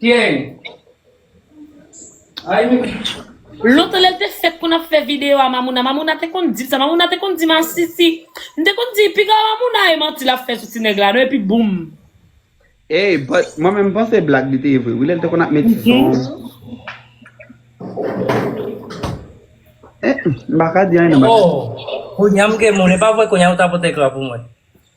Gen. Ay mimi. Lontan lèl te fèt konn ap fè video a mamouna mamouna te konn dil sa mamouna te konn di masisi m te konn di piga mamouna e manti lap fè sou ti nèg la non epi boom. Ey but mwen menm panse blag li te ye vre wi lèl te konn ap met ti son eh m paka di anyen nan bagay sa. Ohh kounya m gen moun epa vre kounya ou ta pote ekran pou mwen.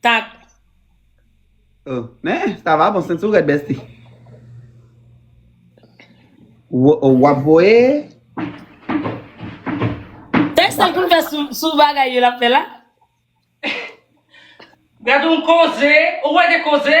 Tap. Oh men sa va bon senti w rèd besti oh wap voye. Tèks sa pou l fè sou bagay yo lap fè la. Gad yon koze ou wè de koze.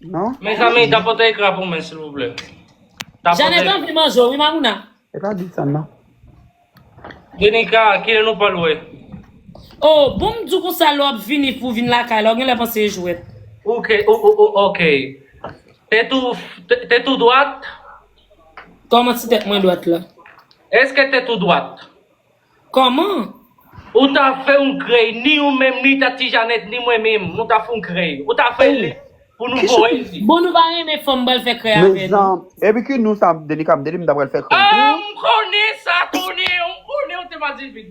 Non? Mezanmi tapote ekran pou mwen silvouplè. Janet Tapote. anvi manje w wi Mamouna. E pa di sa nan. Denika kilè nou pral wè. Oh bon m di w konsa lè w ap vini pou w vin lakay la w genlè panse e jwèt. Ok ou ou ou ok. Tèt ou tèt ou dwat? Kòman ti tèt mwen dwat la? Eske tèt ou dwat? Koman? Ou ta fè yon krèy ni ou menm ni ta tijanèt ni mwen menm nou ta fè yon krèy ou ta fè li pou nou voye l di. Bon nou pa renmen fanm bal fè krèy avè nou. Epi ki nou sa Denika m te di m ta pral fè krèy pou ou. Aah m konnen sa tonnè m konnen ou te pa di vit.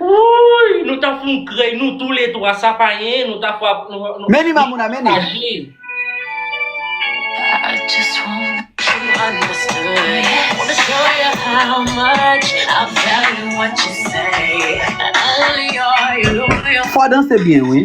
Wouuyy nou ta foun krèy nou tou le 3 sa pa yen nou ta fwa nou nou Many Mamouna many. Fwa danse byen wi.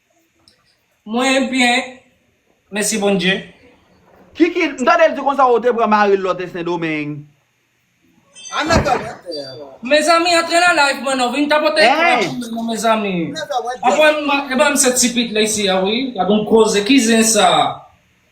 Mwen byen mesi bondye. Kiki, m tande l di konsa ou te pran mari l lè w te sendomeng. Ana ka wè tè a. Mezanmi antre nan live mwen non vin tapote yon bwa chimè non mezanmi Ana ka wè tè a. Anfwem ebyen m se ti pit la isi a wi gad yon koze ki zen sa.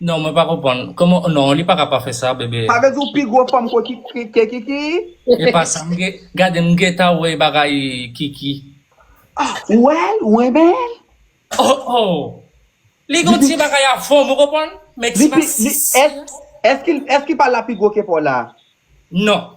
Non mwen pa konprann. Koman non li paka pa fè sa bebe. Sa vle di ou pi gwo fanm ko ke kiki? Epa sa mge gade mgeta wè bagay kiki. Ah ou wèl ou renmenl. Oh oh li gon ti bagay a fòm ou konprann men ti masisi. Esk esk li pa la pi gwo ke paw la? Non.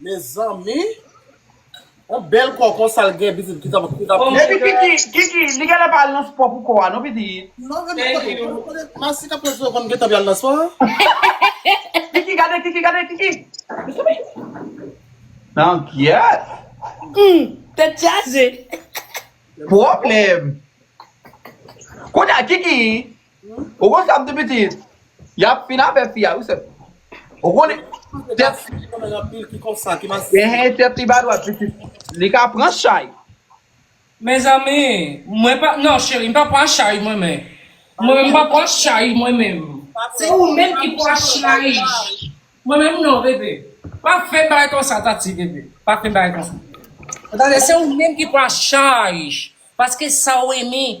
Mezanmi Yon bèl kò konsa l gen pitit ki tap ki tap Epi kiki kiki li genlè pa al nan spò pou kò a non pitit Non e m konnen m konnen Masi kap pran swen kò m gentan pral nan spò Kiki gade kiki gade kiki Mezanmi Nan gyèt Humm tèt chaje Pwoblèm Kounye a kiki Ou konn sa pti piti yap fin avè fi a wi sèm. Ou konnen tèt Ehe tèt li pa dwat pitit li ka pran chay. Mezanmi mwen pa non cheri mpa pran chay mwen men mwen menm mpa pran chay mwen menm se ou menm ki pran chay mwen menm non bebe pa fèm bagay konsa tati bebe pa fèm bagay konsa ou tande se ou menm ki pran chay paske sa ou renmen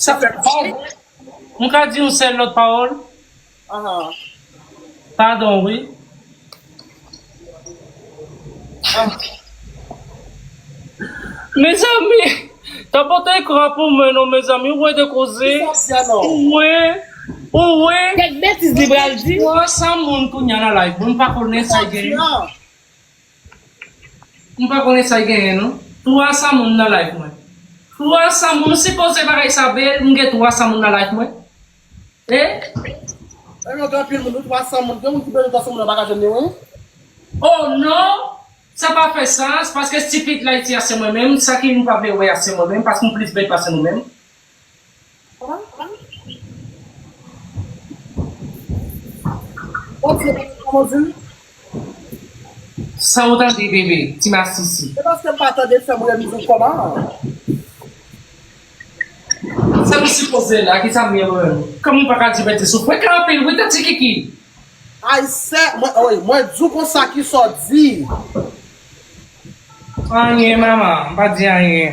Sa fè mal. M ka di yon sèl lòt pawòl? Padon wi. Mezanmi! Tapote ekran pou mwen non mezanmi ou wè de koze ou wè ou wè Kèk betiz li pral di. 300 moun kounya nan live mwen m pa konnen sa gen. M pa konnen sa genyen non. 300 moun nan live mwen 300 moun si poze bagay sa bel m gen 300 moun nan live mwen eh oh non gen anpil moun wi 300 moun gen moun ki bezwen 300 moun nan paka jwenn li wi oh non sa pa fè sans paske stupid la iti a se mwen menm sa ki nou pa vle wè a se mwen menm paske m plis bèl pase nou menm Sa ou tande bebe ti masisi. Sa nou sipoze la kisa mwen mwen. Kòm ou paka di mete sou frekans anpil wi tati kiki. Aysè mwen di w konsa kisa w di. Anyen mama m pa di anyen.